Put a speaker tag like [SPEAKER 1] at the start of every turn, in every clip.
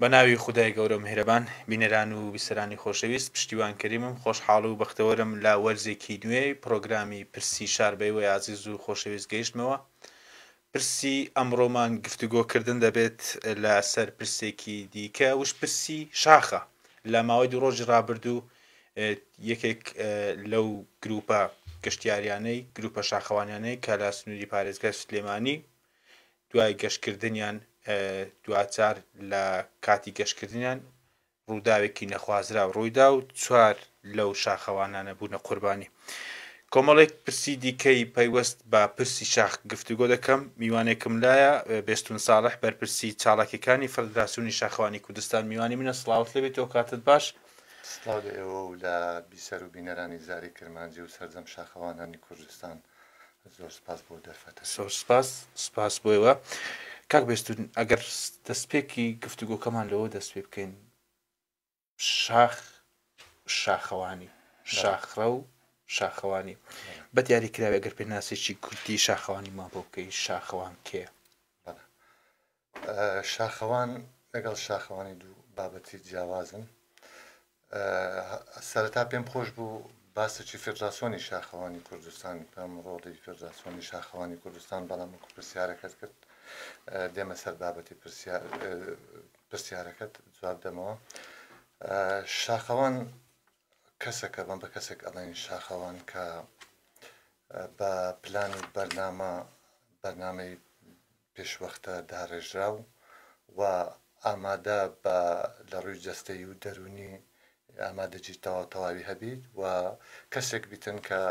[SPEAKER 1] بە ناوی خدای گەورە و مهرەبان بینەران و بیسەرانی خۆشەویست پشتیوان کەریمم خۆشحاڵ و بەختەوەرم لە وەرزێکی نوێی پرۆگرامی پرسی شار بەیوە یازیز و خۆشەویست گەیشتمەوە پرسی ئەمڕۆمان گفتوگۆ کردن دەبێت لە سەر پرسێکی دیکە وش پرسی شاخە لە ماوەی دوو ڕۆژی ڕابردوو یەکێک لەو گروپە گەشتیاریانەی گروپە شاخەوانیانەی کە لە سنووری پارێزگای سلێمانی دوای گەشتکردنیان دوچار لە کاتی گەشتکردنیان ڕووداوێکی نەخوازراو ڕوویدا و چوار لەو شاخەوانانە بوونە قوربانی. کۆمەڵێک پرسی دیکەی پەیوەست بە پرسی شاخ گفتوگۆ دەکەم، میوانێکم لایە، بێستوون ساڵح، بەرپرسی چالاکیەکانی فڕدراسیونی شاخەوانی کوردستان میوانی منە، سڵاوت لێ بێت و کاتت باش. سڵاو لە ئێوە
[SPEAKER 2] و لە بیسەر و بینەرانی زاری کرمانجی و سەرجەم شاخەوانانی کوردستان. زۆر سپاس بۆ دەرفەتە سۆر سپاس
[SPEAKER 1] سپاس بۆیوە کاک بێستون ئەگەر دەستپێکی گفتوگۆکەمان لەوە دەست پێ بکەین شاخ شاخەوانی شاخڕە و شاخەوانی بە دیاری کراوی ئەگەر پێناسێکی کورتی شاخەوانی ما بۆ بکەی شاخەوان کێ
[SPEAKER 2] شاخەوان لەگەڵ شاخەوانی دوو بابەتی جیاوازن سەرەتا پێم خۆش بوو باسەکی فێدراسۆنی شاخەوانی کوردستان بکەم ڕۆڵی فێدراسۆنی شاخەوانی کوردستان بەڵام وەکو پرسیارەکەت کرد دێمە سەر بابەتی پرسیارەکەت جواب دەمەوە شاخەوان کەسەک ئەڵێن بە کەسەک ئەڵێن شاخەوان کە بە پلان و بەرنامە بەرنامەی پێشوەختە داڕێژراو و ئامادە بە لە ڕووی جەستەی و دەروونی ئامادەجی تەواو تەواوی هەبیت و کەسێک بیتن کە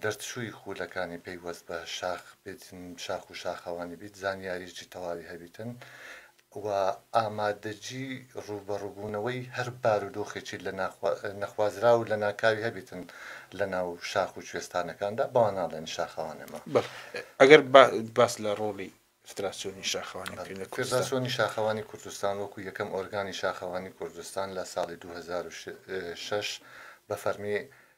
[SPEAKER 2] دەرچووی خوولەکانی پەیوەست بە شاخ بێتن شاخ و شاخەوانی بیت زانیاریی تەواوی هەبیتن و ئامادەجی ڕووبەڕووبوونەوەی هەر بارودۆخێکی لە نەخوازراو و لەناکاوی هەبێتن لە ناو شاخ و کوێستانەکاندا، بەوان ناڵێن شاخەوانەمە. بەڵێ، ئەگەر
[SPEAKER 1] باس لە ڕۆڵی فدراسیۆنی شاخەوانی بکەین لە کوردستان.
[SPEAKER 2] فدراسیۆنی شاخەوانی کوردستان وەکوو یەکەم ئۆرگانی شاخەوانی کوردستان لە ساڵی دوو هەزار و شەش بە فەرمی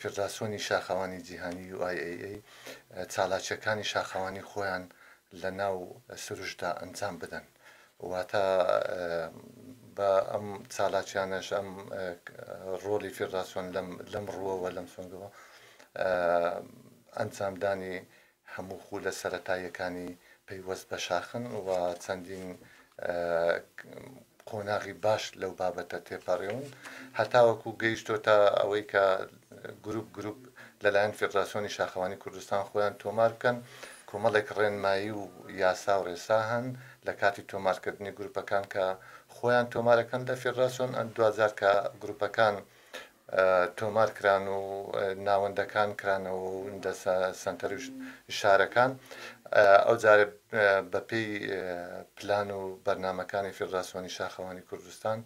[SPEAKER 2] فێدراسیۆنی شاخەوانی جیهانی، UIAA، چالاکییەکانی شاخەوانی خۆیان لە ناو سروشتدا ئەنجام بدەن. واتە بە ئەم چالاکییانەش ئەم ڕۆڵی فێدراسیۆن لەم ڕووەوە، لەم سۆنگەوە ئەنجامدانی هەموو خولە سەرەتاییەکانی پەیوەست بە شاخن و چەندین قۆناغی باش لەو بابەتە تێپەڕێون هەتاوەکو گەیشتۆتە ئەوەی کە گروپ گروپ لەلایەن فێدراسیۆنی شاخەوانی کوردستان خۆیان تۆمار بکەن کۆمەڵێک ڕێنمایی و یاسا و ڕێسا هەن لە کاتی تۆمارکردنی گروپەکان کە خۆیان تۆمارەکەن لە فێدراسیۆن دوجار کە گروپەکان تۆمار کران و ناوەندەکان کرانەوە و دە سەنتەر و شارەکان ئەو جارە بەپی پلان و بەرنمەکانی فیدراسۆنی شاخەوانی کوردستان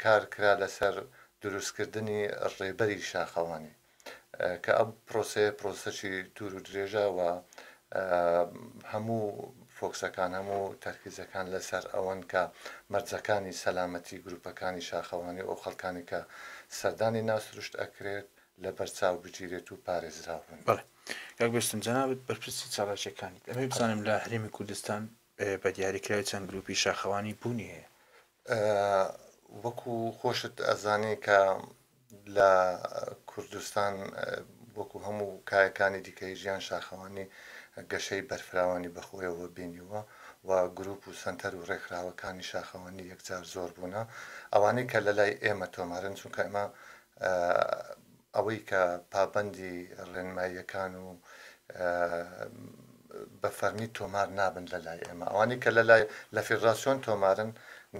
[SPEAKER 2] کار کرا لەسەر دروستکردنی ڕێبەری شاخەوانی کە ئەم پرۆسەیە پرۆسەێکی دوور و درێژە و هەموو فۆکسەکان هەموو تەرکیزەکان لەسەر ئەوەن کە مەرجەکانی سەلامەتی گروپەکانی شاخەوانی و ئەو خەڵکانی کە سەردانی ناسروشت ئەکرێت لە بەرچاو بگیرێت و پارێزراو بن گەگوێستن
[SPEAKER 1] جەنابەت بەرپرسی چالاکیەکانیت ئەمێ بزانم لە هەرێمی کوردستان بە دیاریکراوی چەند گروپی شاخەوانی بوونی هەیە وەکو
[SPEAKER 2] خۆشت ئەزانی کە لە کوردستان وەکو هەموو کایەکانی دیکەی ژیان شاخەوانی گەشەی بەرفراوانی بەخۆیەوە بینیووە و گروپ و سەنتەر و ڕێکخراوەکانی شاخەوانی یەکجار زۆر بوونە ئەوانەی کە لە لای ئێمە تۆمارن چونکە ئێمە ئەوەی کە پابەندی ڕێنماییەکان و بە فەرمی تۆمار نابن لە لای ئێمە ئەوانەی کە لە لای لە فیدڕاسیۆن تۆمارن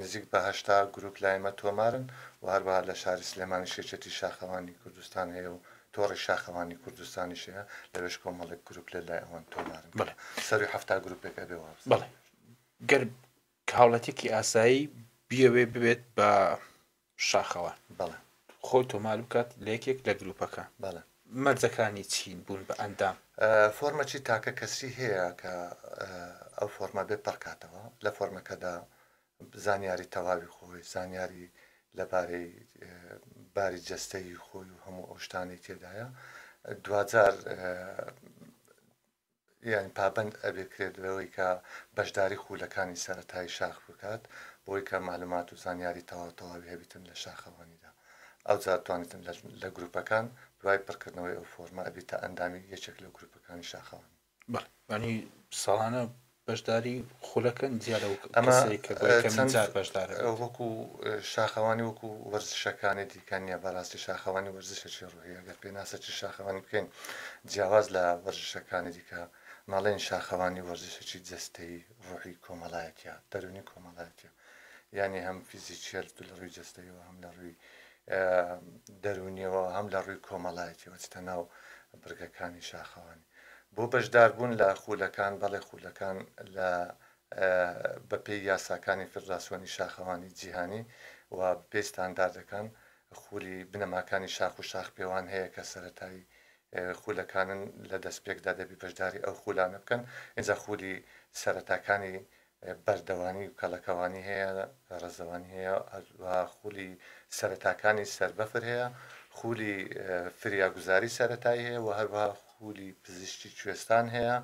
[SPEAKER 2] نزیک بە هەشتا گروپ لای ئێمە تۆمارن و هەروەها لە شاری سلێمانیش یەکێتی شاخەوانی کوردستان هەیە و تۆڕی شاخەوانی کوردستانیش هەیە لەوێش کۆمەڵێک گروپ لە لای ئەوان تۆمارن بەڵێ سەرووی حەفتا گروپێک ئەبێ وابزانم. بەڵێ گەر
[SPEAKER 1] هاوڵاتیەکی ئاسایی بیەوێ ببێت بە شاخەوە بەڵێ
[SPEAKER 2] خۆی تۆمار
[SPEAKER 1] بکات لە یەکێک لە گروپەکان بەڵێ
[SPEAKER 2] مەرجەکانی چین
[SPEAKER 1] بوون بە ئەندام. فۆرمەچی تاکە
[SPEAKER 2] کەسی هەیە کە ئەو فۆرمە بێ پڕکاتەوە لە فۆرمەکەدا زانیاری تەواوی خۆی زانیاری لەبارەی باری جەستەی خۆی و هەموو ئەوشتانی تێدایە دواجار یان پابەند ئەبێ کرێت لەوەی کە بەشداری خولەکانی سەرەتایی شاخ بکات بۆی کە معلومات و زانیاری تەواو تەواوی هەبیتن لە شاخەوانیدا ئەوجا توانیتن لە گروپەکان دوای پڕکردنەوەی ئەو فۆرمە ئەبیتە ئەندامی یەکێک لە گروپەکانی شاخەوانی بەڵێ یانی
[SPEAKER 1] ساڵانە بەشداری خولەکە جیا لەو ئەمە کەسەی کە بۆ یەکەمین
[SPEAKER 2] چەند جار
[SPEAKER 1] بەشدارە بێت. وەکو
[SPEAKER 2] اه، شاخەوانی وەکو وەرزشەکانی دیکە نییە بەڕاستی شاخەوانی وەرزشێکی ڕوحیە گەر پێناسەکی شاخەوانی بکەین جیاواز لە وەرزشەکانی دیکە نەڵێین شاخەوانی وەرزشێکی جەستەیی ڕوحی کۆمەڵایەتیە دەرونی کۆمەڵایەتیە یانی هەم فیزیکیە لە ڕووی جەستەیەوە هەم لە ڕووی اه، دەرونیەوە هەم لە ڕووی کۆمەڵایەتیەوە چتە ناو برگەکانی شاخەوانی بۆ بەشداربوون لە خوولەکان، بەڵێ خوولەکان لە بەپێی یاساکانی فیدراسیۆنی شاخەوانی جیهانی و بەپێی ستانداردەکان خوولی بنەماکانی شاخ و شاخپێوان هەیە کە سەرەتایی خوولەکانن لە دەستپێکدا دەبی بەشداری ئەو خوولانە بکەن ئینجا خوولی سەرەتاکانی بەردەوامی و کەڵەکەوانی هەیە، ڕێزەوانی هەیە و خولی سەرەتاکانی سەربەفر هەیە، خولی فریاگوزاری سەرەتایی هەیە و هەروەها خولی پزیشکی کوێستان هەیە،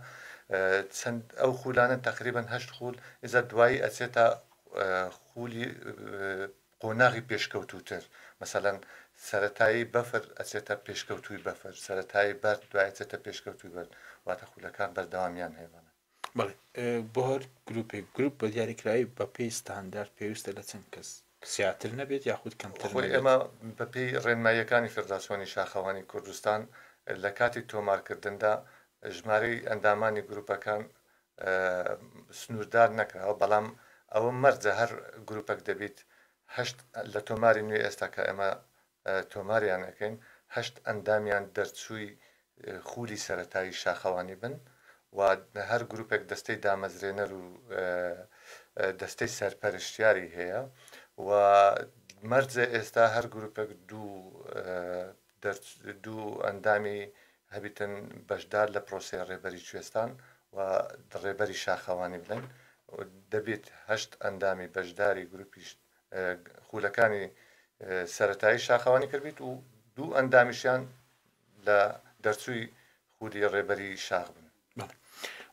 [SPEAKER 2] چەند ئەو خولانە تەقریبەن هەشت خول، ئیجا دوایی ئەچێتە خولی قۆناغی پێشکەوتووتر، مەسەلەن سەرەتایی بەفر ئەچێتە پێشکەوتووی بەفر، سەرەتایی بەرد دوای ئەچێتە پێشکەوتووی بەرد، واتە خولەکان بەردەوامیان هەیە بەڵێ. بەڵێ
[SPEAKER 1] بۆ هەر گروپێک گروپ بە دیاریکراوی بەپێی ستاندارد پێویستە لە چەند کەس زیاتر نەبێت یاخود کەمتر خۆی ئێمە بەپێی
[SPEAKER 2] ڕێنماییەکانی فێدراسیۆنی شاخەوانی کوردستان لە کاتی تۆمارکردندا ژمارەی ئەندامانی گروپەکان سنووردار نەکراوە بەڵام ئەوە مەرجە هەر گروپەک دەبیت هەشت لە تۆماری نوێ ئێستا کە ئێمە تۆماریان ئەکەین هەشت ئەندامیان دەرچووی خوولی سەرەتایی شاخەوانی بن و هەر گروپێک دەستەی دامەزرێنەر و دەستەی سەرپەرشتیاری هەیە و مەرجە ئێستا هەر گروپێک دوو دوو ئەندامی هەبیتن بەشدار لە پرۆسەی ڕێبەری کوێستان و ڕێبەری شاخەوانی بن دەبێت هەشت ئەندامی بەشداری گروپیش خولەکانی سەرەتایی شاخەوانی کردبیت و دوو ئەندامیشیان لە دەرچووی خولی ڕێبەری شاخ بن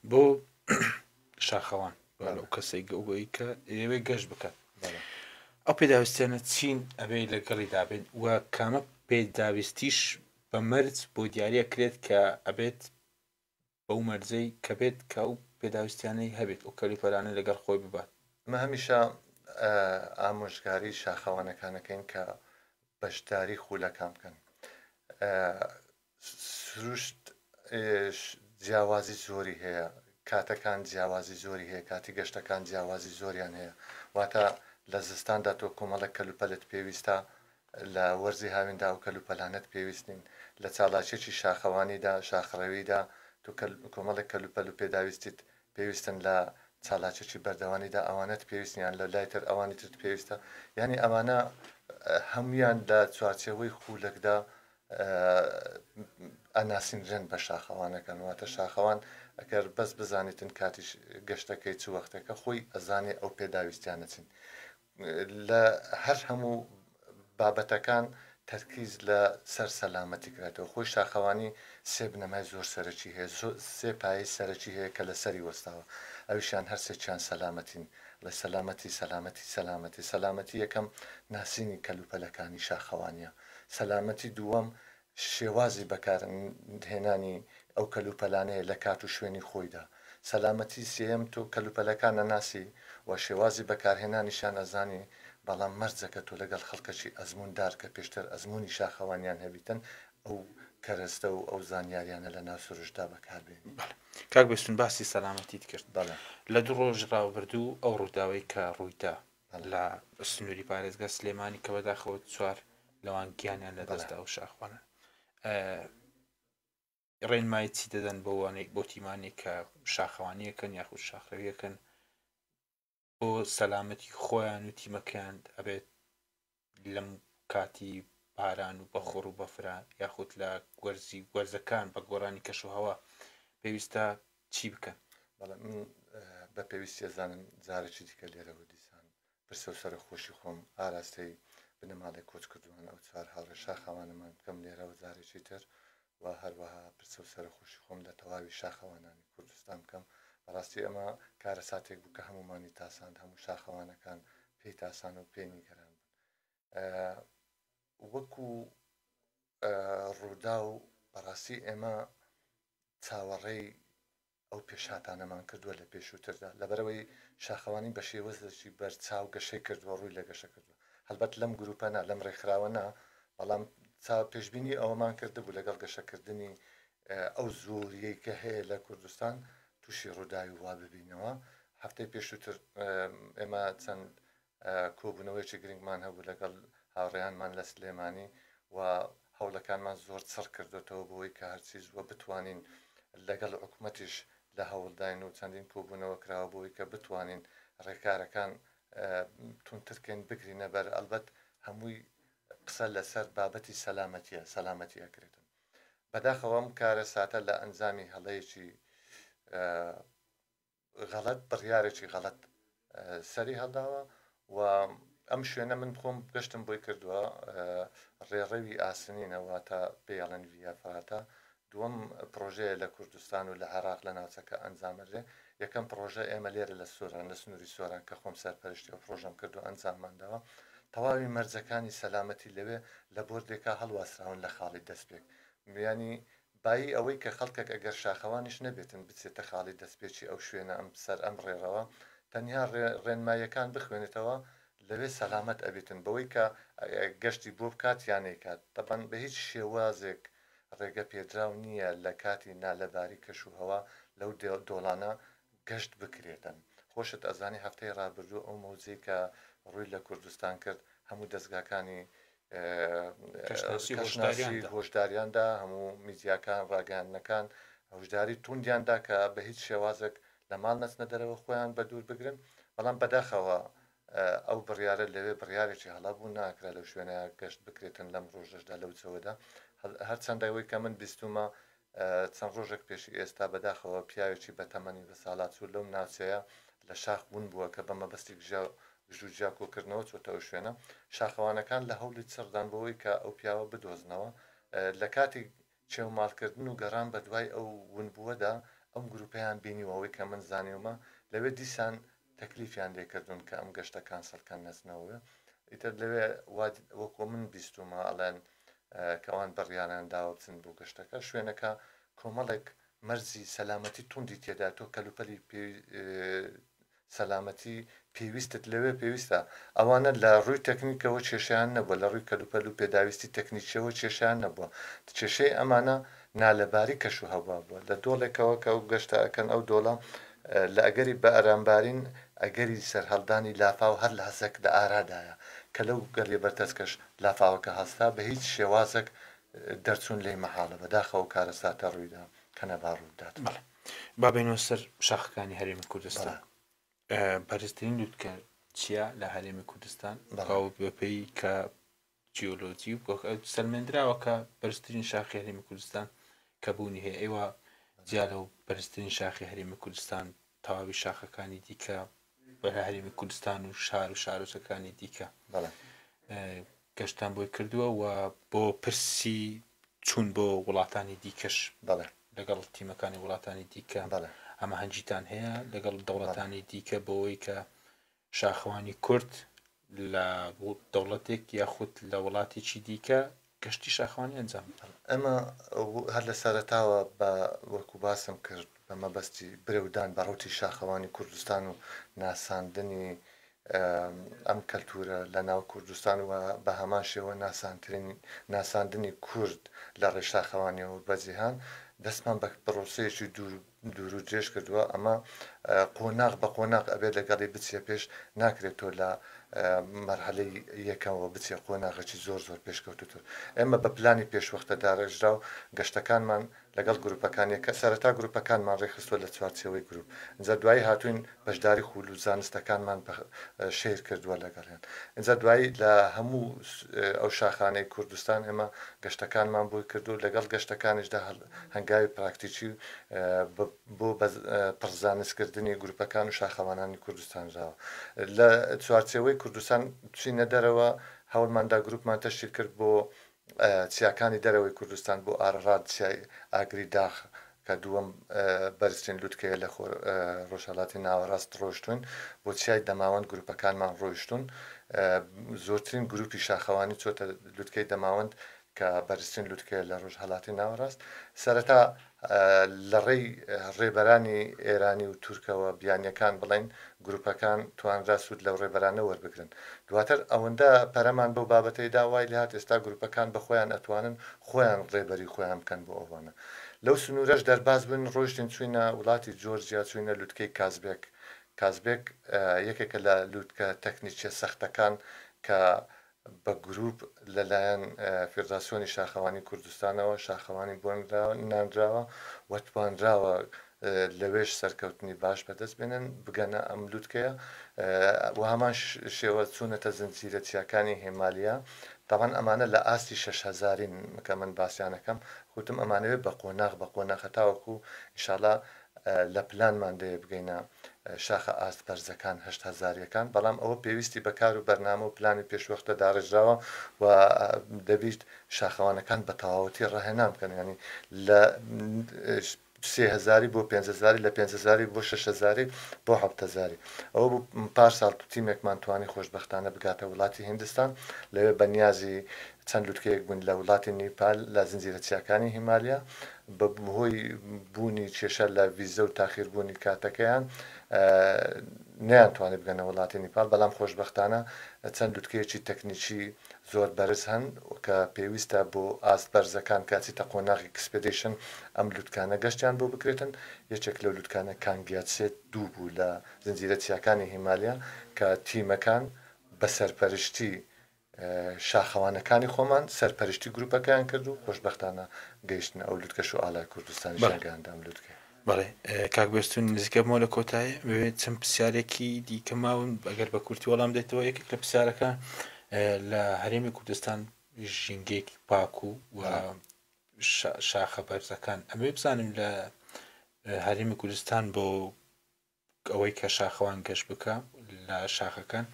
[SPEAKER 2] بۆ
[SPEAKER 1] شاخەوان لەو کەسێک گەوگەی کە ئێوەی گەشت بکات ئەو پێداویستیانە چین ئەبێ لەگەڵی دابێت و کامە پێداویستیش بە مەرج بۆ دیارە کرێت کە ئەبێت بەو مەرجەی کە بێت کە ئەو پێداویستیانەی هەبێت ئەو کەلوپەلانەی لەگەڵ خۆی ببات. ئێمە هەمیشە
[SPEAKER 2] ئامۆژگاری شاخەوانەکان ئەکەین کە بەشداری خولەکان بکەن. سروشت جیاوازی زۆری هەیە، کاتەکان جیاوازی زۆری هەیە، کاتی گەشتەکان جیاوازی زۆریان هەیە، واتە لە زستاندا تۆ کۆمەڵێک کەلوپەلت پێویستە لە وەرزی هاویندا ئەو کەلوپەلانەت پێویست نین. لە چالاکییەکی شاخەوانیدا، شاخڕەویدا، تۆ کۆمەڵێک کەلوپەل و پێداویستیت پێویستن، لە چالاکییەکی بەردەوانیدا ئەوانەت پێویست نییە، لە لای تر ئەوانی ترت پێویستە. یانی ئەمانە هەموویان لە چوارچێوەی خوولەکدا ئەناسینرێن بە شاخەوانەکان. واتە شاخەوان ئەگەر بەس بزانیتن کاتی گەشتەکەی چ وەختێکە، خۆی ئەزانێ ئەو پێداویستییانە چین. لە هەر هەموو بابەتەکان تەرکیز لە سەر سەلامەتی کراتەوە خۆی شاخەوانی سێ بنەمای زۆر سەرەکی هەیە زۆر سێ پایەی سەرەکی هەیە کە لە سەری وەستاوە ئەویشیان هەر سێکیان سەلامەتین لە سەلامەتی سەلامەتی سەلامەتی سەلامەتی یەکەم ناسینی کەلوپەلەکانی شاخەوانیە سەلامەتی دووەم شێوازی بەکار هێنانی ئەو کەلوپەلانەیە لە کات و شوێنی خۆیدا. سەلامەتی سێیەم تۆ کەلوپەلەکان نەناسی و شێوازی بەکارهێنانیشیان ئەزانی بەڵام مەرجە کە تۆ لەگەڵ خەڵکەکی ئەزموون دار کە پێشتر ئەزموونی شاخەوانیان هەبیتن ئەو کەرەستە و ئەو زانیاریانە لە ناو سروشتدا بەکار بێنی. بەڵێ کاک بێستون
[SPEAKER 1] باسی سەلامەتیت کرد بەڵێ. لە دوو ڕۆژی ڕابردوو ئەو ڕووداوەی کە ڕوویدا لە سنووری پارێزگا سلێمانی کە بەداخەوە چوار لەوان گیانیان لە دەستدا و شاخوانە ڕێنمایی چی دەدەن بەوانێک بۆ تیمانێک کە شاخەوانیەکەن یاخود شاخەویەکەن بۆ سەلامەتی خۆیان و تیمەکەیان ئەبێت لەم کاتی باران و بەخوڕ و بەفرە یاخود لە وەرزی وەرزەکان بە گۆڕانی کەش و هەوا پێویستە چی بکەن؟ بەڵێ من
[SPEAKER 2] بە پێویستی ئەزانم جارێکی دیکە لێرەوە دیسان پرسە و سەرەخۆشی خۆم ئاراستەی بنەماڵەی کۆچکردووان ئەو چوار هاوڕێ شاخاوانەمان بکەم لێرەوە جارێکی تر و هەروەها پرسە و سەرەخۆشی خۆم لە تەواوی شاخەوانانی کوردستان بکەم، بەڕاستی ئەمە کارەساتێک بوو کە هەموومانی تاساند، هەموو شاخەوانەکان پێی تاسان و پێی نیگەران بوون. وەکو ڕووداو بەڕاستی ئێمە چاوەڕێی ئەو پێشهاتانەمان کردووە لە پێشووتردا، لەبەرئەوەی شاخەوانی بە شێوەزلکی بەرچاو گەشەی کردووە، ڕووی لە گەشە کردووە، هەڵبەت لەم گرووپە نا، لەم ڕێکخراوە نا، بەڵام چا پێشبینی ئەوەمان کردبوو لەگەڵ گەشەکردنی ئەو زۆرییەی کە هەیە لە کوردستان تووشی ڕووداوی وا ببینەوە، هەفتەی پێشووتر ئێمە چەند کۆبوونەوەیەکی گرنگمان هەبوو لەگەڵ هاوڕێیانمان لە سلێمانی و هەوڵەکانمان زۆر چڕ کردۆتەوە بۆی کە هەرچی زووە بتوانین لەگەڵ حکومەتیش لە هەوڵداین و چەندین کۆبوونەوە کراوە بۆی کە بتوانین ڕێکارەکان تونترکەین بگرینە بەر ئەلبەت هەمووی قسە لەسەر بابەتی سەلامەتیە سەلامەتی ئەکرێتن بەداخەوەم کارە ساتە لە ئەنجامی هەڵەیەکی غەڵەت بڕیارێکی غەڵەت سەری هەڵداوە و ئەم شوێنە من خۆم گەشتم بۆی کردووە ڕێڕەوی ئاسنینەوە تا پێڵەن ویا فاتە دووەم پرۆژەیە لە کوردستان و لە عێراق لە ناوچەکە ئەنجامەرێ یەکەم پرۆژە ئێمە لێرە لە سۆران لە سنووری سۆران کە خۆم سەرپەرشتی و پرۆژەم کرد و ئەنجاممانداوە تەواوی مەرجەکانی سەلامەتی لەوێ لە بردێکا هەڵواسراون لە خاڵی دەستپێک میانی بایی ئەوەی کە خەڵکەک ئەگەر شاخەوانیش نەبێتن بچێتە خاڵی دەستپێکی ئەو شوێنە ئەم سەر ئەم ڕێڕەوە تەنیا ڕێ ڕێنماییەکان بخوێنێتەوە لەوێ سەلامەت ئەبێتن بەوەی کە گەشتی بۆ بکات یا نەیکات تەبەن بە هیچ شێوازێک ڕێگە پێدراو نییە لە کاتی نالەباری کەش و هەوا لەو دۆڵانە گەشت بکرێتن خۆشت ئەزانی هەفتەی ڕابردوو ئەو مەوجەی کە ڕووی لە کوردستان کرد هەموو دەزگاکانی کەشناسی هۆشداریاندا هەموو میدیاکان ڕاگەیاندنەکان هەشداری توندیاندا کە بە هیچ شێوازێک لە ماڵ نەچنە دەرەوە خۆیان بە دوور بگرن بەڵام بەداخەوە ئەو بڕیاە لەوێ بڕیارێکی هەڵا بوو ناکرا لەو شوێنە گەشت بکرێتن لەم ڕۆژەشدا لەو جەوەدا هەرچەندەوەی کە من بیستمە چەند ڕۆژێک پێش ئێستا بەداخەوە پیاوێکی بەتەمەنی بەساڵاچوو لەو ناوچەیە لە شاخ ون بووە کە بە مەبەستی گژو گیا کۆکردنەوە چۆتە ئەو شوێنە، شاخەوانەکان لە هەوڵی چڕدان بۆ ئەوەی کە ئەو پیاوە بدۆزنەوە، لە کاتی چێوماڵکردن و گەڕان بە دوای ئەو ونبووەدا ئەم گروپەیان بینیوە، ئەوەی کە من زانیومە لەوێ دیسان تەکلیفیان لێ کردوون کە ئەم گەشتە کانسڵ کەن نەچنەوە ئیتر لەوێ وا وەکۆ من بیستومە ئەڵێن کە ئەوان بڕیاریان داوە بچن بۆ گەشتەکە شوێنەکە کۆمەڵێک مەرزی سەلامەتی توندی تێدا تۆ کەلوپەلی پێ سەلامەتی پێویستت لەوێ پێویستە ئەوانە لە ڕووی تەکنیکەوە کێشیان نەبووە لە ڕووی کەلوپەل و پێداویستی تەکنیکیەوە کێشیان نەبووە کێشەی ئەمانە نالەباری کەش و هەوا بووە لە دۆڵێکەوە کە ئەو گەشتە ئەکەن ئەو دۆڵە لە ئەگەری بەئەرامبارین ئەگەری سەرهەڵدانی لافاو هەر لەحزەک لە ئارادایە کە لەو گەلێ بەرتەس کەش لافاوەکە هەستا بە هیچ شێوازەک دەرچوون لێی مەحاڵە بەداخەوە کارەساتە ڕوویدا کە نەبا ڕوو بدات. بەڵێ با بێینەوە
[SPEAKER 1] سەر شاخەکانی هەرێمی کوردستان بەرزترین لوتکە چیە لە هەرێمی کوردستان بەپێی کە جیۆلۆجی و گۆک ئەو سەلمێندراوە کە بەرزترین شاخی هەرێمی کوردستان کە بوونی هەیە ئێوە جیا لەو بەرزترین شاخی هەرێمی کوردستان تەواوی شاخەکانی دیکە بە هەرێمی کوردستان و شار و شارۆچەکانی دیکە بەڵێ اه، گەشتان بۆی کردووە و بۆ پرسی چوون بۆ وڵاتانی دیکەش بەڵێ لەگەڵ تیمەکانی وڵاتانی دیکە بەڵێ ئەمە هەنجیتان هەیە لەگەڵ دەوڵەتانی دیکە بۆەوەی کە شاخەوانی کورد لە دەوڵەتێک یاخود لە وڵاتێکی دیکە گەشتی شاخەوانی ئەنجام بدەن ئەمە
[SPEAKER 2] هەر لە سەرەتاوە بە وەکو باسم کرد بە مەبەستی برەودان بە ڕوتی شاخەوانی کوردستان و ناساندنی ئەم کەلتورە لە ناو کوردستان و بە هەمان شێوە ناسانترین ناساندنی کورد لە ڕێشاخەوانیەوە بەجیهان دەستمان بە پرۆسەیەکی دوور دوورو درێژ کردووە ئەمە قۆناغ بە قۆناغ ئەبێت لەگەڵی بچێ پێش ناکرێت تۆ لە مەرحەلەی یەکەمەوە بچێ قۆناغەکی زۆر زۆر پێشکەوتوتر ئێمە بە پلانی پێشوەختە دارێژرا و گەشتەکانمان لەگەڵ گروپەکان یەکە سەرەتا گروپەکانمان ڕێکخستوە لە چوارچێوەی گروپ ئینجا دوایی هاتوین بەشداری خوول و زانستەکانمان شیر کردووە لەگەڵیان ئینجا دوایی لە هەموو ئەو شاخانەی کوردستان ئێمە گەشتەکانمان بۆی کردو لەگەڵ گەشتەکانیشدا هەڵ هەنگاوی پراکتیکی بۆ پڕ زانستکردنی گروپەکان و شاخەوانانی کوردستان دراوە. لە چوارچێوەی کوردستان چینە دەرەوە، هەوڵمان دا گروپمان تەشکیل کرد بۆ چیاکانی دەرەوەی کوردستان، بۆ ئارەڕات چیای ئاگری داخ کە دووەم بەرزترین لوتکەیە لە ڕۆژهەڵاتی ناوەڕاست ڕۆیشتووین، بۆ چیای دەماوەند گروپەکانمان ڕۆیشتوون، زۆرترین گروپی شاخەوانی چۆتە لوتکەی دەماوەند کە بەرزترین لوتکەیە لە رۆژهەلاتی ناوەراست، سەرەتا لە رێی رێبەرانی ئێرانی و تورکەوە بیانیەکان بڵێین، گروپەکان توانرا سود لەو رێبەرانە وەربگرن، دواتر ئەوەندە پەرەمان بەو بابەتەی دا وای لێهات ئێستا گروپەکان بە خۆیان ئەتوانن خۆیان رێبەری خۆیان بکەن بۆ ئەوانە لەو سنورەش دەرباز بووین رۆیشتین چوینە ولاتی جۆرجیا چوینە لوتکەی کازبێک، کازبێک یەکێکە لە لوتکە تەکنیکیە سەختەکان کە بە گرووپ لەلایەن فیدراسیۆنی شاخەوانی کوردستانەوە شاخەوانی بۆ نانراوە و توانراوە لەوێش سەرکەوتنی باش بەدەست بێنن بگەنە ئەم لوتکەیە و هەمان شێوە چوونەتە زنجیرە چیاکانی هێمالیا تاوان ئەمانە لە ئاستی شش هەزارین کە من باسیانەکەم خوتم ئەمانەوێت بە قۆناغ بە قۆناخە تاوەکو ئیشالا لە پلانماندەیە بگەینە شاخە ئاست بەرزەکان هەشت هەزاریەکان بەڵام ئەوە پێویستی بە کار و بەرنامە و پلانی پێشوەختە داڕێژراوە و دەبیت شاخەوانەکان بە تەواوەتی ڕاهێنان بکەن ینی لە سێ هزاری بۆ پێ هزاری لە پێ هزاری بۆ شش هزاری بۆ حەبتەزاری ئەوە بوو پار ساڵ تیمێکمان توانی خۆشببختانە بگاتە وڵاتی هندستان لەوێ بەنیازی چەند لوتکەیەک بوون لە وڵاتی نیپال لە زنجیرە چیاکانی هیمالیا، بە هۆی بوونی کێشە لە ڤیزە و تاخیربوونی کاتەکەیان نەیانتوانی بگەنە وڵاتی نیپال، بەڵام خۆشبەختانە چەند لوتکەیەکی تەکنیکی زۆر بەرز هەن کە پێویستە بۆ ئاست بەرزەکان کە ئەچیتە قۆناغی کسپێدیشن ئەم لوتکانە گەشتیان بۆ بکرێتن، یەکێک لەو لوتکانە کانگیاتسێ دوو بوو لە زنجیرە چیاکانی هیمالیا کە تیمەکان بە سەرپەرشتی. شاخەوانەکانی خۆمان سەرپەرشتی گروپەکەیان کرد و خۆشبەختانە گەیشتنە ئەو لوتکەش و ئاڵای کوردستانیشیان گەیاندە ئەم لوتکەیە. بەڵێ کاک
[SPEAKER 1] بێستوون نزیک ئەبمەوە لە کۆتایی ببێت چەند پرسیارێکی دیکە ماون ئەگەر بە کورتی وەڵام دێتەوە یەکێک لە پرسیارەکە لە هەرێمی کوردستان ژینگەیەکی پاک و و شاخە بەرزەکان ئەمێ بزانم لە هەرێمی کوردستان بۆ ئەوەی کە شاخەوان گەشت بکا لە شاخەکان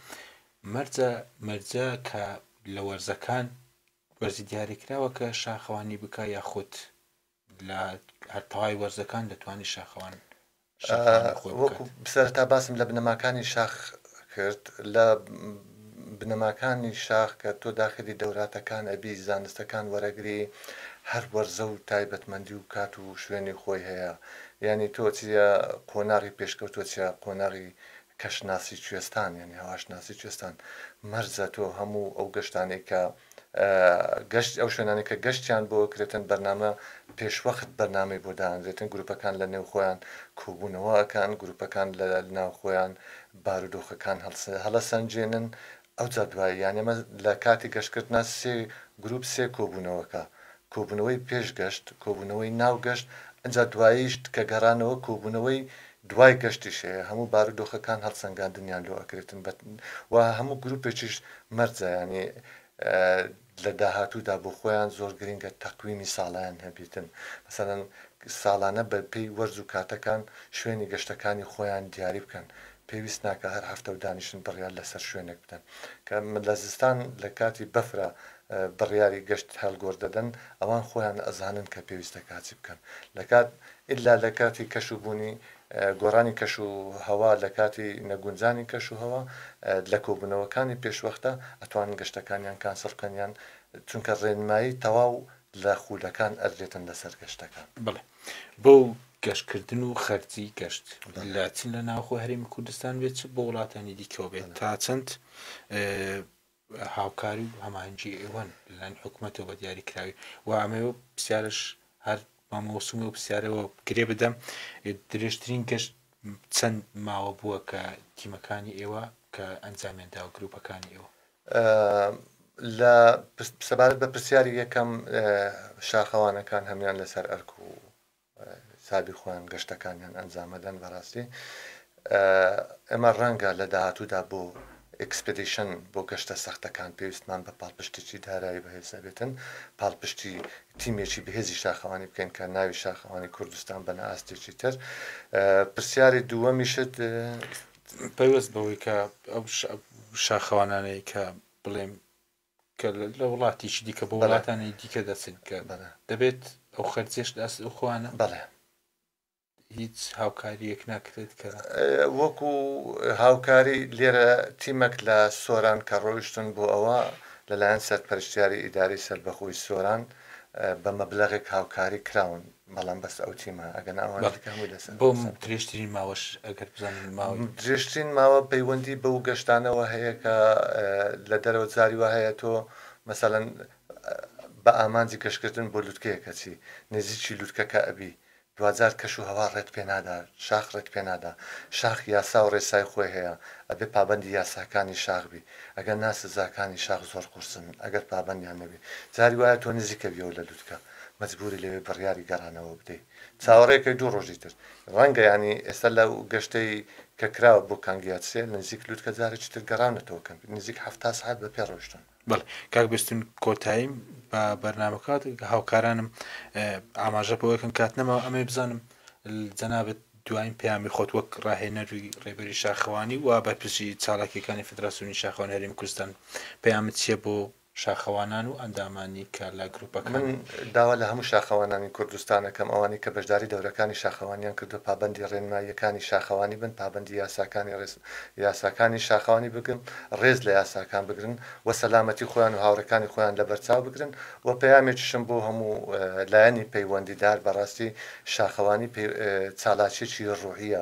[SPEAKER 1] مەرجە مەرجە کە لە وەرزەکان وەرزی دیاریکراوە کە شاخەوانی بکە یاخود لە هەرتەوای وەرزەکان دەتوانانی شاخەوان
[SPEAKER 2] وەکو سەرتا باسم لە بنەماکانی شاخ کرد لە بنەماکانی شاخ کە تۆ داخلی دەوراتەکان ئەبی زانستەکان وەرەگری هەر وەرزە و تایبەتمەندی و کات و شوێنی خۆی هەیە یانی تۆ چیە قۆناغی پێشکەوتوە چیە قۆناغی کەش ناسی کوێستان یانی هەواش ناسی کوێستان مەرزە تۆ هەموو ئەو گەشتانەی کە گەشت ئەو شوێنانی کە گەشتیان بۆ کرێتن بەرنامە پێشوەخت بەرنامەی بۆ دانرێتن گروپەکان لە نێوخۆیان کۆبوونەوە ئەکان گروپەکان لە ناوخۆیان بارودۆخەکان هەڵەسەنجێنن ئەوجا دوایی یان ئێمە لە کاتی گەشتکردنا سێ گروپ سێ کۆبونەوەکە کۆبونەوەی پێش گەشت کۆبونەوەی ناو گەشت ئەجا دواییش کە گەرانەوە کۆبونەوەی دوای گەشتیش هەیە هەموو بارودۆخەکان هەڵسەنگاندنیان لۆ ئەکرێتن بە وە هەموو گروپێکیش مەرجە یانی لە داهاتوودا بۆ خۆیان زۆر گرنگە تەقویمی ساڵەیان هەبێتن مەسەلەن ساڵانە بە پێی وەرز و کاتەکان شوێنی گەشتەکانی خۆیان دیاری بکەن پێویست ناکا هەر هەفتە و دانیشن بڕیار لەسەر شوێنێک بدەن کە لە زستان لە کاتی بەفرا بڕیاری گەشت هەلگۆر دەدەن ئەوان خۆیان ئەزانن کە پێویستە کاچی بکەن لە کات ئیلا لە کاتی کەش و بوونی گۆڕانی کەش و هەوا لە کاتی نەگونجانی کەش و هەوا لە کۆبوونەوەکانی پێشوەختە ئەتوانن گەشتەکانیان کانسڵ بکەن یان چونکە ڕێنمایی تەواو لە خوولەکان ئەدرێتن لەسەر گەشتەکان. بەڵێ بۆ
[SPEAKER 1] گەشت کردن و خەرجی گەشت لە چ لە ناوخۆی هەرێمی کوردستان بێت چ بۆ وڵاتانی دیکەوە بێت تا چەند هاوکاری و هەماهەنگی ئێوەن لەلایەن حکومەتەوە بە دیاری کراوی و ئەمەوێ و پرسیارش هەر مامۆسم و پرسیارەوە گرێ بدەم درێژترین گەشت چەند ماوە بووە کە تیمەکانی ئێوە کە ئەنجامیان داوە گروپەکانی ئێوە
[SPEAKER 2] لە سەبارەت بە پرسیاری یەکەم شاخەوانەکان هەمان لەسەر ئەرک و سابی خۆیان گەشتەکانیان ئەنجامەدەن بەراستی ئێمە رەنگە لە داهاتوودا بۆ ئیکسپدیشن بۆ گەشتە سەختەکان پێویستمان بە پاڵپشتیی دارایی بەهێزەبێتن پاڵپشتی تیمێکی بەهێزی شاخەوانی بکەین کە ناوی شاخەوانی کوردستان بەنە ئاستێکی تر پرسیاری دووەمیشت
[SPEAKER 1] پەیوەست بەوەی کە ئەو شاخەوانانەی کە بڵێم کە لە وڵاتیکی دیکە بۆ وڵاتانی دیکە دەچن کە دەبێت ئەو خەرجێش لە ئەست ئەوخواانە بەڵێ هیچ هاوکاریەک ناکرێت کە وەکو
[SPEAKER 2] هاوکاری لێرە تیمەک لە سۆران کە ڕۆیشتن بۆ ئەوە لەلایەن سەرپەرشتیاری ئیداری سەربەخۆی سۆران بە مەبلغێک هاوکاری کراون بەڵام بەس ئەو تیمە ئەگەنا ئەوان بەڵێ. دیکە هەمووی لەسەر بۆ م- حساب
[SPEAKER 1] درێژترین ماوەش ئەگەر بزانین ماوەی درێژترین ماوە
[SPEAKER 2] پەیوەندی بەو گەشتانەوە هەیە کە اه، لە دەرەوە جاری وا هەیە تۆ مەسەلەن اه، بە ئامانجی گەشتکردن بۆ لوتکەیەک ئەچی نزیکی لوتکەکە ئەبی دواجار کەش و هەوا ڕێت پێ نادا شاخ ڕێت پێ نادا شاخ یاسا و ڕێسای خۆی هەیە ئەبێ پابەندی یاساکانی شاخ بی ئەگەر نا سزاکانی شاخ زۆر قورسن ئەگەر پابەندیان نەبی جاری وایە تۆ نزیک ئەبیەوە لە لوتکە مەجبوری لەوێ بڕیاری گەڕانەوە بدەی چاوەڕێ کەی دوو ڕۆژی تر ڕەنگە یانی ئێستا لەو گەشتەی کە کراوە بۆ کانگیاتسێ نزیک لوتکە جارێکی تر گەڕاونەتەوە کەمپی نزیک حەفتا سەعات بە پێ ڕۆشتون. بەڵێ کاک بێستون
[SPEAKER 1] کۆتاییم بە بەرنامە کات هاوکارانم ئاماژە بەوە کەن کات نەماوە ئەمەی بزانم جەنابەت دوایین پەیامی خۆت وەک ڕاهێنەروی ڕێبەری شاخەوانی و بەرپرسی چالاکیەکانی فدراسیۆنی شاخەوانی هەرێمی کوردستان پەیامت چیە بۆ شاخەوانان و ئەندامانی کە لە گروپەکان هەن. من داوا لە
[SPEAKER 2] هەموو شاخەوانانی کوردستان ئەکەم ئەوانەی کە بەشداری دەورەکانی شاخەوانیان کردووە پابەندی ڕێنماییەکانی شاخەوانی بن، پابەندی یاساکانی ڕێز یاساکانی شاخەوانی بگرن، ڕێز لە یاساکان بگرن و سەلامەتی خۆیان و هاوڕێکانی خۆیان لەبەرچاو بگرن و پەیامێکیشم بۆ هەموو لایەنی پەیوەندیدار بەڕاستی شاخەوانی پەی چالاکیەکی ڕوحیە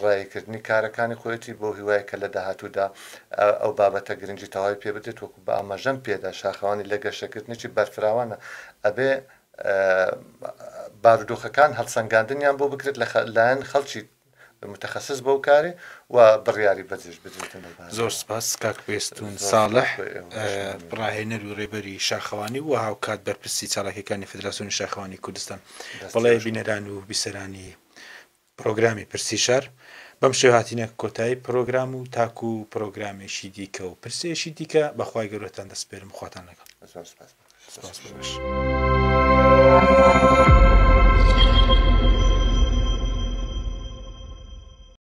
[SPEAKER 2] ڕاییکردنی کارەکانی خۆیەتی بەو هیوایەی کە لە داهاتوودا ئەو بابەتە گرنگی تەواوی پێ بدرێت وەکو بە ئاماژەم پێدا شاخەوانی لە گەشەکردنێکی بەرفراوانە ئەبێ بارودۆخەکان هەڵسەنگاندنیان بۆ بکرێت لە لایەن خەڵکی متخصص بەو کارێ و بڕیاری بەجێش بدرێتن زۆر سپاس
[SPEAKER 1] کاک پێستون ساڵح ڕاهێنەر و ڕێبەری شاخەوانی و هاوکات بەرپرسی چالاکەکانی فدراسیۆنی شاخەوانی کوردستان بەڵێ بینەران و بیسەرانی پرۆگرامی پرسی شار بەم شێ هاتینە کۆتایی پرۆگرام و تاکو و پرۆگرامێکی دیکە و پرسێکی دیکە بەخوای گەورەتان دەسپێرم خواتان لەگەڵ سپاس بەش.